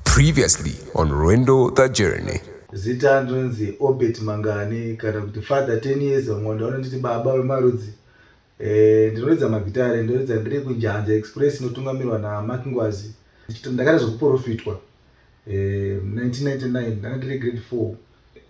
Previously on Rwendo the Journey. Zita ndinonzi Obert Mangani kana kuti Father 10 years Mhondo vanonditi baba vemarudzi. Eh ndinoridza magitare ndinoridza ndiri kunjanza Express inotungamirwa na Mark Ngwazi. Ndakaita zvekuprofitwa eh 1999 ndanga ndiri grade 4.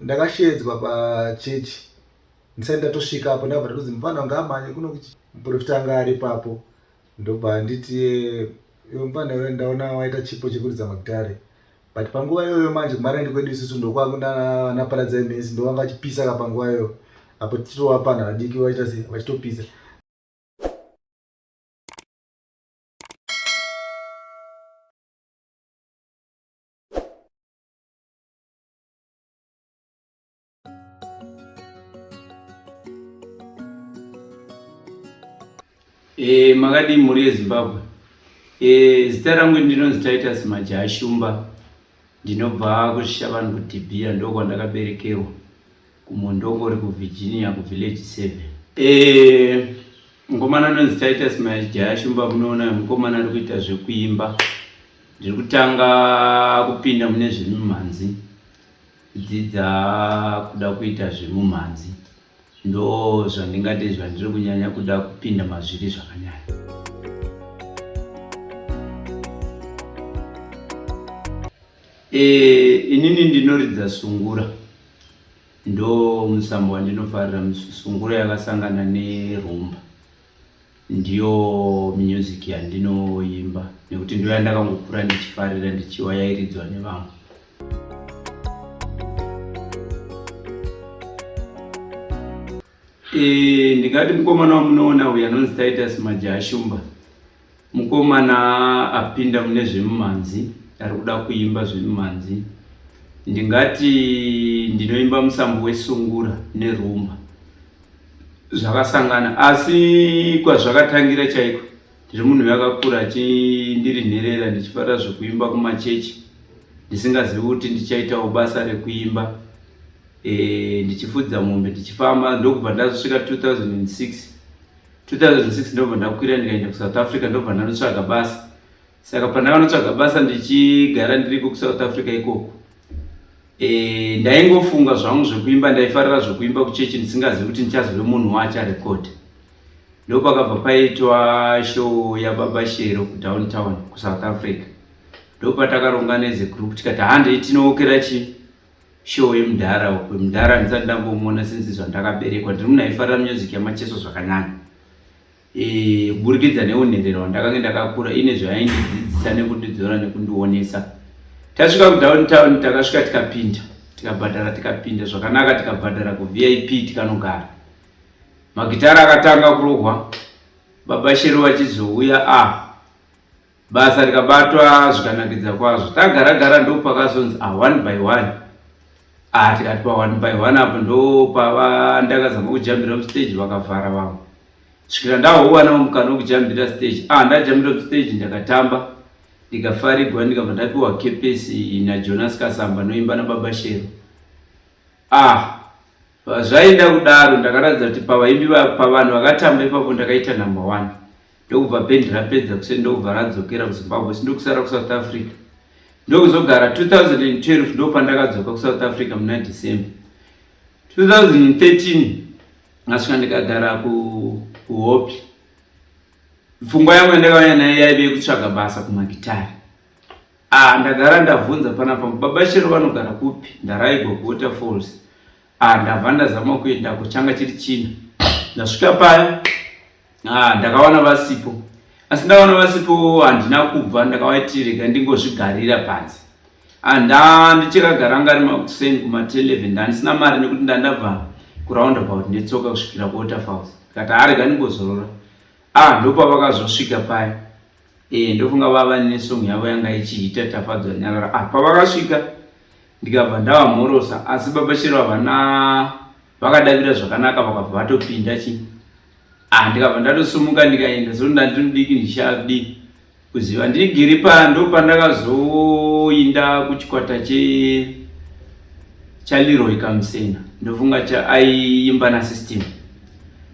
Ndakashedzwa pa church. Ndisati ndatosvika apo ndabva ndatodzi mfana wangu amhanye kuno kuchi muprofita anga ari papo. ndobva anditi iwe mfana iwe ndaona waita chipo chekuridza magitare but panguva iyoyo manje kumaraini kwedu isusu ndokwangu nana paradzai mesi ndovanga vachipisa ka panguva iyoyo apo titovapana vadiki vaita se vachitopisa E, makadii mhuri yezimbabwe e, zita rangu ndinonzi titus majaha shumba ndinobva kushavanhu kudhibhiya ndokwandakaberekerwa kumondongori kuvirginia kuvillaji seven e, mukomana anonzi titus majaha shumba munoona mukomana ari kuita zvekuimba ndiri kutanga kupinda mune zvemimhanzi Kudzidza kuda kuita zvemumhanzi ndo zvandingati zvandiri kunyanya kuda kupinda mazviri zvakanyanya. E, inini ndinoridza sungura ndo musambo wandinofarira sungura yakasangana nerumba. Ndiyo music yandinoimba nekuti ndiyo yandakangokura ndichifarira ndichiwa yairidzwa nevamwe. E, ndingati mukomana wamunoona uyu anonzi Titus Majaya Shumba Mukomana apinda mune zvemumhanzi ari kuda kuimba zvemumhanzi. Ndingati ndinoimba musambo wesungura nerumba zvakasangana, asi kwazvakatangira chaiko ndiri munhu yakakura ndiri nherera ndichifarira zvekuimba kumachechi ndisingazivi kuti ndichaitawo basa rekuimba e, ndichifudza mombe ndichifamba ndokubva ndazosvika 2006 2006 ndobva ndakwira ndikaenda kusouth africa ndobva ndanotsvaga basa saka pandakanotsvaga basa ndichigara ndiriko kusouth africa ikoko e, ndaingofunga zvangu zvekuimba ndaifarira zvekuimba kuchechi ndisingazivi kuti ndichazove munhu waacharekodha ndopakabva paitwa show yababa shero kudowntown kusouth africa ndopatakaronga nezegroup tikati handei tinookera chii show yemudhara uko mudhara ndisati ndambomuona since zvandakaberekwa ndiri munhu aifarira music yamacheso zvakanyanya e, kuburikidza neunherero wandakange ndakakura ine zvayaindidzidzisa nekundidzora nekundionesa tasvika kudown town takasvika tikapinda tikabhadhara tikapinda zvakanaka tikabhadhara kuvip tikanogara magitara akatanga kurohwa baba shero vachizouya a ah, basa rikabatwa zvikanakidza kwazvo tagara gara ndopakazonzi a ah, one by one a ah, tikati pa one by one apo ndopava ndakazama kujambira mustage vakavhara vamwe svikira ndahowanao mukana wekujambira stage a ah, ndajambira mustage ndakatamba ndikafarigwa ndikabva ndapiwa kepesi najonas kasamba noimba nababa shero a zvaida kudaro ndakaratidza kuti pavaimbi pavanhu vakatamba ipapo ndakaita number one ndokubva band rapedza kuseni ndokubva radzokera kuzimbabwe si ndokusara kusouth africa ndokuzogara 2012 ndopandakadzoka kusouth africa muna december 2013 ndasvika ndikagara kuhope pfungwa yangu yandakauya nayo yaive yekutsvaga basa kumagitari ah ndagara ndabvunza panapa baba shero vanogara kupi ndaraigwa kuwater falls ah ndabva ndazama kuendako changa chiri china ndasvika paya ah ndakawana vasipo asi ndakawana vasipo handina kubva ndakavaiti rega ndingozvigarira panze ah nda ndichakagara ngari makuseni kuma 11 ndandisina mari nekuti ndandabva kuround about netsoka kusvikira kuwaterfalls ndikati arega ah, ndingozorora ah ndopavakazosvika paya Eh, ndofunga vava nesong yavo yanga ichiita tafadzwa nyarara ah, pavakasvika ndikabva ndavamhorosa asi baba chero havana vakadavira zvakanaka vakabva vatopinda chi ah, ndikabva ndatosumuka ndikaenda so ndandinodiki ndichadii kuziva ndiri giri pa ndo pandakazoinda kuchikwata che chaliroy kamusena ndofunga chaaiyimba na system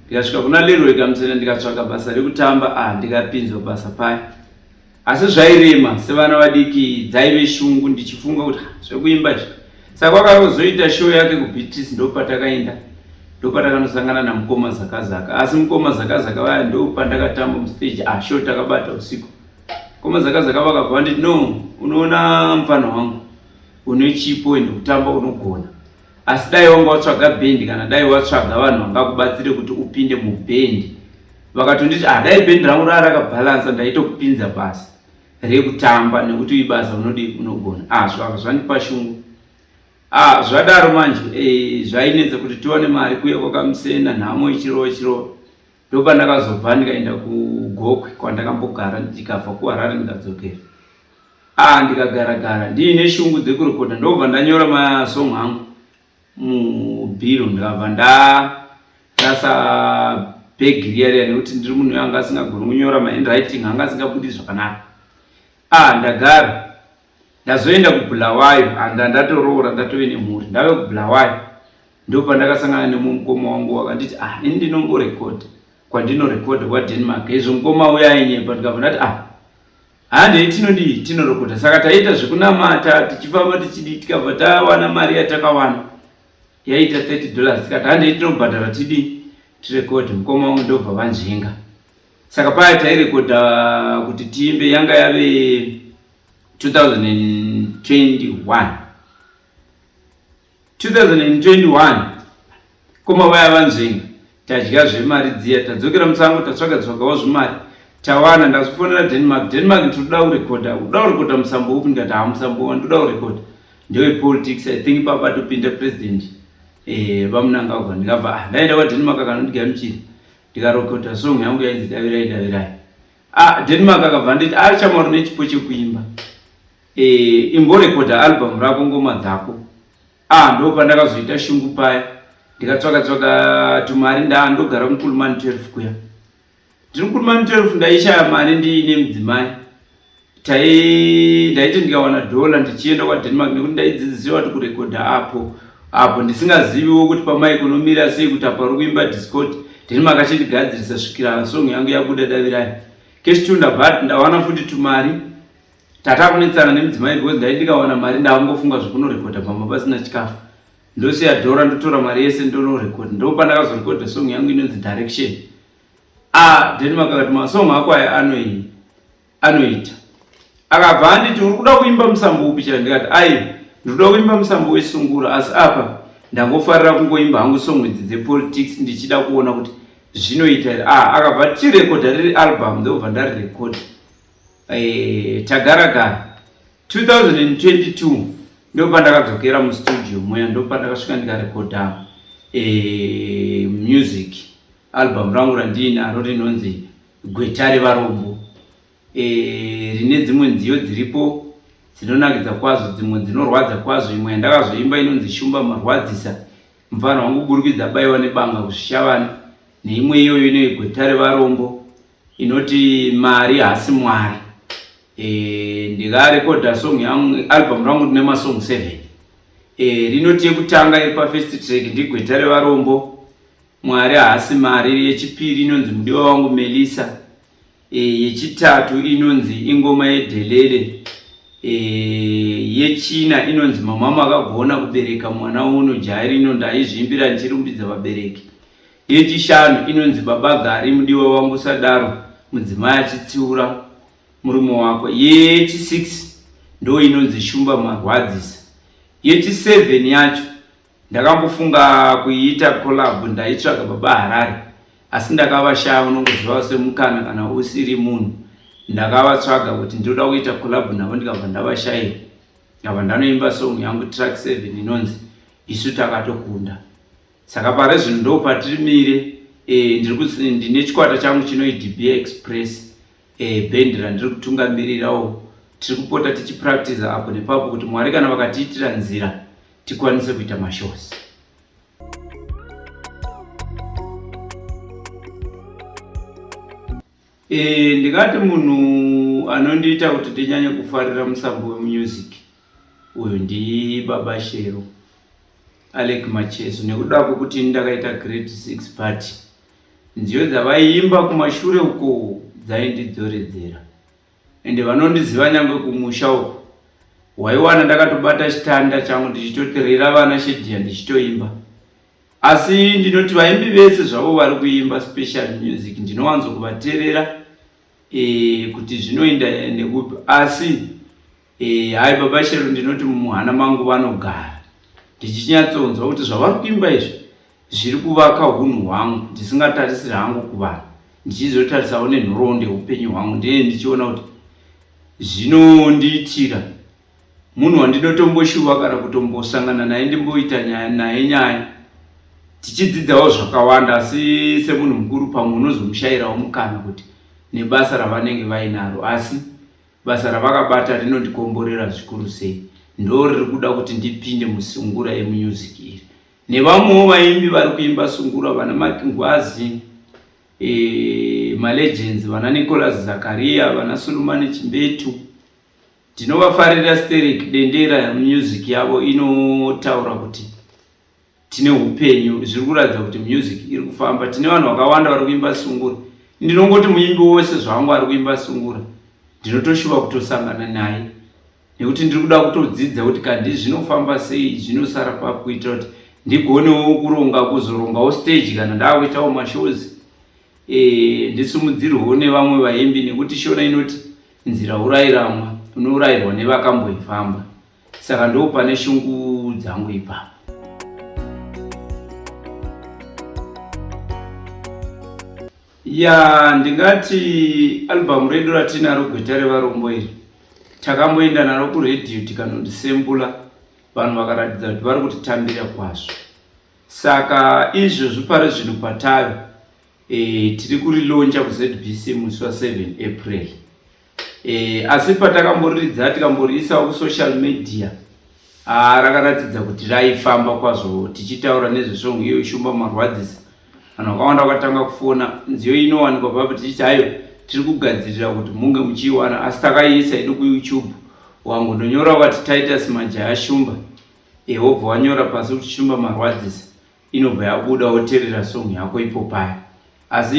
ndikasvika kuna leroy kamusena ndikatsvaga basa rekutamba ah ndikapinzwa basa paya asi zvairema sevana vadiki dzaive shungu ndichifunga kuti ah, zvekuimba izvi saka kwakazoita show yake kubeatrice ndopatakaenda ndopatakanosangana namukoma zakazaka asi mukoma zakazaka vaya ndopandakatamba mustage ah show takabata usiku mukoma zakazaka vakabva vanditi no unoona mfana wangu une chipo ende kutamba unogona asi dai wanga watsvaga bhendi kana dai watsvaga vanhu vangakubatsire kuti upinde mubhendi vakatonditi ah dai bhendi rangu raa rakabhalansa ndaitokupinza basa rekutamba nekuti ibasa unodii unogona ah zvaka zvandipa shungu ah zvadaro manje e, zvainetsa kuti tiwane mari kuya kwakamusena nhamo ichirova chirova ndopandakazobva ndikaenda kugokwe kwandakambogara ndikabva kuharare ndikadzokera a ah, ndikagara gara ndiine shungu dzekurekota ndobva ndanyora masong angu mubhiro ndikabva ndarasa bhegi riya riya nekuti ndiri munhu anga asingagoni kunyora mahandwriting anga asingabudi zvakanaka a ah, ndagara ndazoenda kubulawayo and ndatoroora ndatove nemhuri ndave kubulawayo ndo pandakasangana nemwe mukoma wangu wakanditi ah ini ndinomborekodha kwandinorekodha kwadenmark izvo mukoma uya ainyepa ndikabva ndati ah handei tinodii tinorekodha saka taiita zvekunamata tichifamba tichidii tikabva tawana mari yatakawana yaiita 30 dollars tikati handei tinobhadhara tidii tirekodhe mukoma wangu ndobva vanzvenga saka paya tairekodha kuti tiimbe yanga yave 2021 2021 koma vaya vanzvenga tadya zvemari dziya tadzokera musango tatsvaga tsvagawo zvimari tawana ndazvifonera denmark denmark ndinoda kurekodha uda kurekodha musambo upi ndikati haa musambo wa ndoda kurekodha ndewepolitics i think papa topinda president eh, vamunangagwa ndikabva ah, ndaenda kwadenmark akanondigamuchira ndikarekodha song yangu yainzi davirai davirai Ah, Denmark akabva nditi ah chama rune chipo chekuimba. Eh, imborekoda album rako ngoma dzako. Ah, ndo pandakazoita shungu paya. Ndikatsvaka tsvaka tumari nda ndogara kuMkulumani 12 kuya. Ndiri kuMkulumani 12 ndaishaya mari ndiine mudzimai. tai ndaiti ndikawana dollar ndichienda kwadenmark nekuti ndaidzidzisiwa kuti kurekodha apo apo ndisingaziviwo kuti pamaikonomira sei kuti apa uri kuimba discord denmark achindigadzirisa svikira song yangu yabuda davirai kestunda but ndawana futi tumari tata kunetsana nemudzimai because ndai ndikawana mari ndavangofunga zvekunorekodha pamba pasina chikafu ndosiya dhora ndotora mari yese ndonorekodha ndopandakazorekodha song yangu inonzi direction ah denmark akati masong ako aya anoii anoita akabva anditi uri kuda kuimba musambo upi chero ndikati aiwa ndinoda kuimba musambo wesungura asi apa ndangofarira kungoimba hangu song idzi dzepolitics ndichida kuona kuti zvinoita here ah, akabva tirekodha riri album ndobva ndarirekodha eh, tagaragara 2022 ndopa ndakadzokera mustudio muya ndopa ndakasvika ndikarekodha eh, music album rangu randiinaro rinonzi Gweta revarombo e, rine dzimwe nziyo dziripo dzinonakidza kwazvo, dzimwe dzinorwadza kwazvo. Imwe yandakazoimba inonzi Shumba Marwadzisa, mfana wangu kuburikidza baiwa nebanga kuzvishavana, neimwe iyoyo ine gweta revarombo inoti mari hasi mwari. E, ndikarekodha song yangu, album rangu rine masong 7 e, rinoti yekutanga iri pafirst track ndigweta revarombo Mwari haasi mari. Yechipiri inonzi mudiwa wangu Melisa. E, yechitatu inonzi ingoma yedhelele. E, yechina inonzi mamama akagona kubereka mwana uno jairi ino ndaizviimbira ndichirumbidza vabereki. Yechishanu inonzi baba gari mudiwa wangu sadaro mudzimai achitsiura murume wako. Yechisix ndo inonzi shumba marwadzisa. Yechiseven yacho Ndakambofunga kuiita collab ndaitsvaga baba Harare asi ndakavashaya unongoziva semukana kana usiri munhu ndakavatsvaga kuti ndinoda kuita collab navo ndikabva ndavashaya ndabva ndanoimba song yangu track 7 inonzi isu takatokunda saka pare zvinhu ndopatirimire e, eh, ndine chikwata changu chinoidba express eh, bhendi randiri kutungamirirawo tiri kupota tichipractiza apo nepapo kuti mwari kana vakatiitira nzira tikwanise kuita mashows e, ndingati munhu anondiita kuti ndinyanye kufarira musambo wemusic Uyu ndibaba Shero Alec Macheso nekuda kwekuti ndakaita grade 6 but nziyo dzavaiimba kumashure uko dzaindidzoredzera ende vanondiziva nyangwe kumusha uko waiwana ndakatobata chitanda changu ndichitoterera vana shedhiya ndichitoimba asi ndinoti vaimbi vese zvavo vari kuimba special music ndinowanzo kuvaterera e, eh, kuti zvinoenda nekupi asi Eh, hai baba Shero ndinoti mumuhana mangu vanogara ndichinyatsonzwa kuti zvavari kuimba izvi zviri kuvaka hunhu hwangu ndisingatarisiri hangu kuvanhu ndichizotarisawo nenhoroondo yeupenyu hwangu ndine ndichiona kuti zvinondiitira munhu wandinotomboshuva kana kutombosangana naye ndimboita nyaya naye nyaya tichidzidzawo zvakawanda asi semunhu mukuru pamwe unozomushayirawo mukana kuti nebasa ravanenge vainaro asi Basa ravakabata rinondikomborera zvikuru sei, ndoo riri kuda kuti ndipinde musungura yemunyuziki iri. Nevamwewo vaimbi vari kuimba sungura vana Mark Ngwazi, e, eh, malegends vana Nicholas Zakaria, vana Sulumani Chimbetu. Ndinovafarira Steric Dendera, music yavo inotaura kuti tine upenyu zviri kuratidza kuti music iri kufamba tine vanhu vakawanda vari kuimba sungura ndinongoti muimbi wose zvangu ari kuimba sungura ndinotoshuva kutosangana naye nekuti ndiri kuda kutodzidza kuti kandi zvinofamba sei zvinosara pakuita kuti ndigonewo kuronga kuzorongawo stage kana ndaakuitawo mashows e, ndisimudzirwewo nevamwe vaimbi nekuti shona inoti nzira urayiramwa unourayirwa nevakamboifamba saka ndo pane shungu dzangu ipapo ya ndingati albhamu redu ratinaro gweta revarombo iri takamboenda naro kuredhiyo tikanondisembula vanhu vakaratidza kuti vari kutitambira kwazvo saka izvozvi pari zvinhu patave e, tiri kurilonja kuzbc musi wa 7 april e, asi patakamboriridza tikamboriisawo kusocial media ah, rakaratidza kuti raifamba kwazvo tichitaura nezvesongo iyo ishumba marwadzisa vanhu vakawanda vakatanga kufona nziyo inowanikwa papo tichiti hayo tiri kugadzirira kuti munge muchiiwana asi takaiisa yedu kuyoutube wangu ndonyora ukati titus majaya shumba ehobva wanyora pasi kuti shumba marwadzisa inobva yabuda woterera song yako ipo paya asi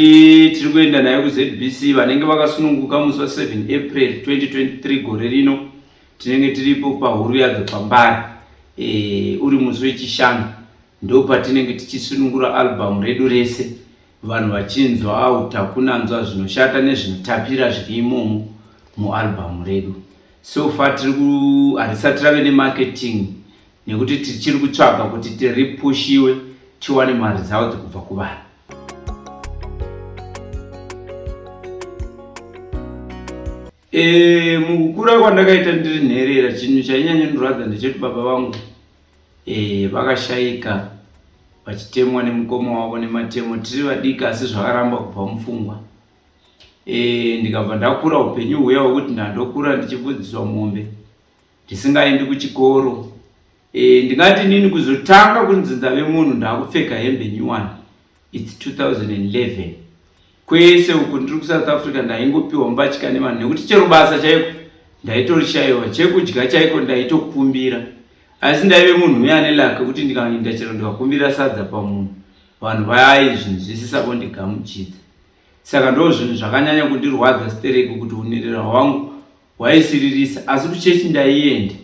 tiri kuenda nayo kuzbc vanenge vakasununguka musi wa 7 april 2023 gore rino tinenge tiripo pahuru yadzo pambari e, uri musi wechishanu ndo patinenge tichisunungura albhamu redu rese vanhu vachinzwa au takunanzwa zvinoshata nezvinotapira zviri imomo mualbhamu redu so far tiri ku harisati rave nemarketing nekuti tichiri kutsvaga kuti tiripushiwe tiwane mari dzawo dzekubva kuvanhu e, mukukura kwandakaita ndiri nherera chinhu chainyanya ndorwadza ndechekuti baba vangu e, vakashaika vachitemwa nemukoma wavo nematemo tiri vadiki asi zvakaramba kubva mupfungwa e, ndikabva ndakura upenyu huya hwekuti ndandokura ndichifudziswa mombe ndisingaendi kuchikoro e, ndingati nini kuzotanga kunzi ndave munhu ndakupfeka hembe nyuwani its 2011 kwese uku ndiri kusouth africa ndaingopiwa mbatya nevanhu nekuti chero basa chaiko ndaitorishayiwa chekudya chaiko ndaitokumbira asi ndaive munhu uye ane lake kuti ndikaenda chero ndikakumbira sadza pamunhu vanhu vayai zvinhu zvisisako ndigamuchidza saka ndo zvinhu zvakanyanya kundirwadza stereki kuti unirira wangu hwaisiririsa asi kuchechi ndaiende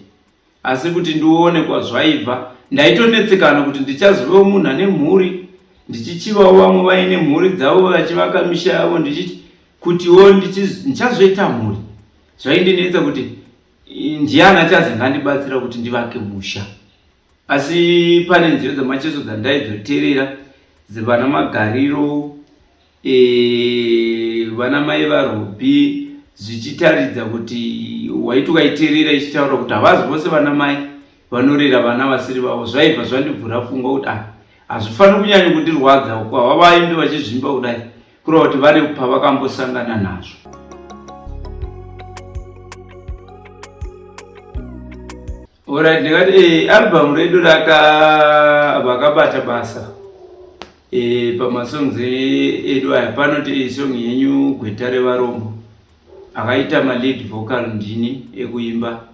asi kuti ndione kwazvaibva ndaitonetsekana kuti ndichazovewo munhu ane mhuri ndichichivawo vamwe vaine mhuri dzavo vachivaka misha yavo ndichiti kutiwo ndichazoita mhuri zvaindinetsa kuti ndiani achazenge andibatsira kuti ndivake musha asi pane nzira dzamacheso dzandaizoterera dzevana magariro e, vana mai vaRuby zvichitaridza kuti waiti ukaiterera ichitaura kuti havazi vose vana mai vanorera vana vasiri vavo zvaibva zvandibvura pfungwa kuti ah hazvifaniri kunyanya kundirwadza uku hava vaimbi vachizvimba kudai kureva kuti vane pavakambosangana nazvo Alright, ndikati eh, album redu raka vakabata basa eh, pamasongs edu aya panoti eh, song yenyu gweta revarombo akaita malead vocal ndini ekuimba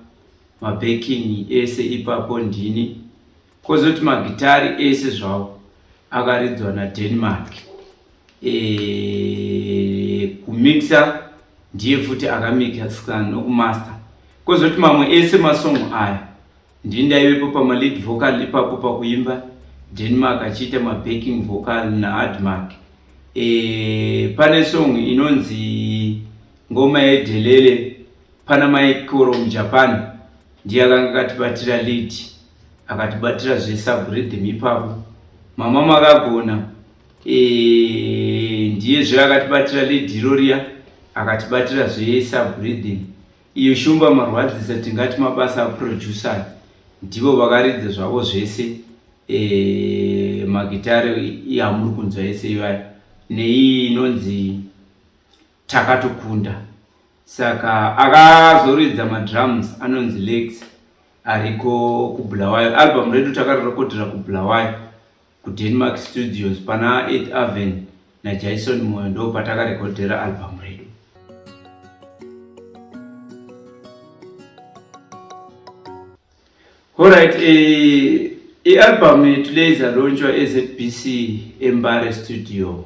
mabacking ese ipapo ndini kozoti magitari ese zvawo akaridzwa nadenmark e, kumixa ndiye futi akamixa nokumaster kozoti mamwe ese masongo aya ndii ndaivepo pamalead vocal ipapo pakuimba denmark achiita mabacking vocal naadmark e, pane song inonzi ngoma yedelele pana maikoro mujapan ndiye akanga akatibatira lead akatibatira zvesubriddim ipapo mama makagona eh, ndiye zve akatibatira lead iroriya akatibatira zvesubriddim iyo shumba marwadzisa tingati mabasa aproducer ndivo vakaridza zvavo zvese eh, magitare yamuri kunzwa yese iyoyo neiyi inonzi takatokunda saka akazoridza madrums anonzi legs ariko kubulawayo album redu takarirekodhera kubulawayo kudenmark studios pana 8 aven najaison moyo ndo patakarekodhera album redu horit eh, ialbum yetuleiza lonchwa ezbc embare studio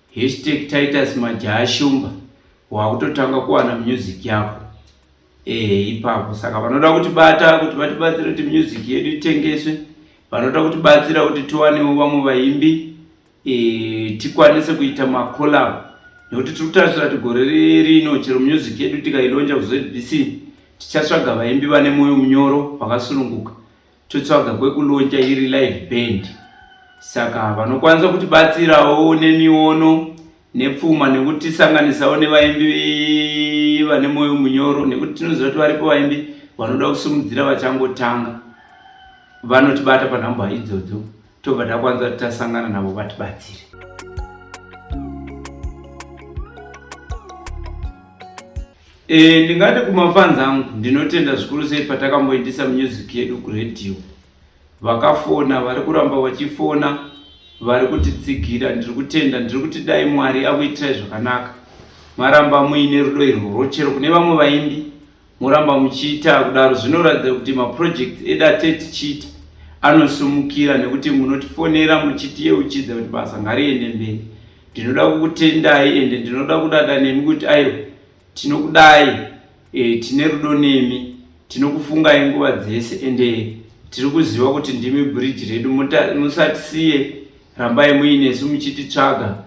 Hashtag Titus Majaha Shumba wakutotanga kuwana music yako eh ipapo saka vanoda kuti bata kuti vatibatsire kuti music yedu itengeswe vanoda kuti batsira kuti tiwanewo vamwe vaimbi eh tikwanise kuita ma collab nekuti tiri kutarisira kuti gore rino chero music yedu tikailonja ku ZBC tichatsvaga vaimbi vane moyo munyoro vakasununguka totsvaga kwekuloncha iri live band saka vanokwanisa kuti batsirawo nemiono nepfuma nekuti sanganisawo nevaimbi vane moyo munyoro nekuti tinoziva kuti varipo vaimbi vanoda kusimudzira vachangotanga vanotibata panhamba idzodzo tobva takwanisa kuti tasangana navo vatibatsire E, ndingati kumafans angu ndinotenda zvikuru sei patakamboitisa music yedu kuradio. Vakafona, vari kuramba vachifona, vari kutitsigira, ndiri kutenda, ndiri kuti dai Mwari akuitirai zvakanaka. Maramba muine rudo irworwo chero kune vamwe vaimbi moramba muchiita kudaro zvinoratidza kuti maproject edu ate tichiita anosumukira nekuti munotifonera muchitiyeuchidza kuti basa ngariende mberi ndinoda kukutendai ende ndinoda kudada nemi kuti aiwa tinokudai e, tine rudo nemi tinokufungai nguva dzese ende tiri kuziva kuti ndimi bridge redu musatisiye rambai muinesu muchititsvaga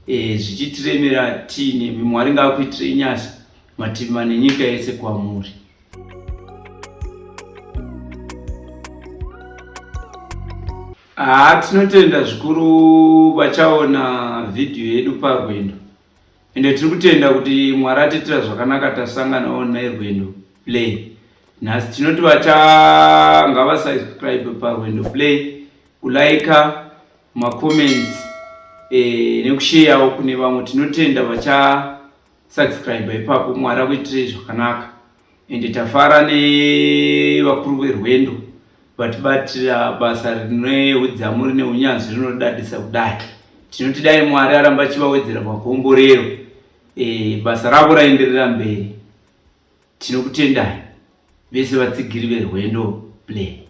e, zvichitiremera tiinemi mwari ngaakuitirei nyasha mativi mane nyika yese kwamuri Haa ah, tinotenda zvikuru vachaona vhidhiyo yedu parwendo ende tiri kutenda kuti mwari atiitira zvakanaka tasanganawo nerwendo play nhasi tinoti vachanga vasubscribe parwendo play kulaika macomments e, eh, nekusheyawo kune vamwe tinotenda vachasubscribe ipapo mwari akuitirei zvakanaka ende tafara nevakuru verwendo vatibatira basa rine udzamu rine unyanzvi rinodadisa kudai tinoti dai mwari aramba achivawedzera pakomborero e, basa ravo raenderera mberi tinokutendai vese vatsigiri verwendo play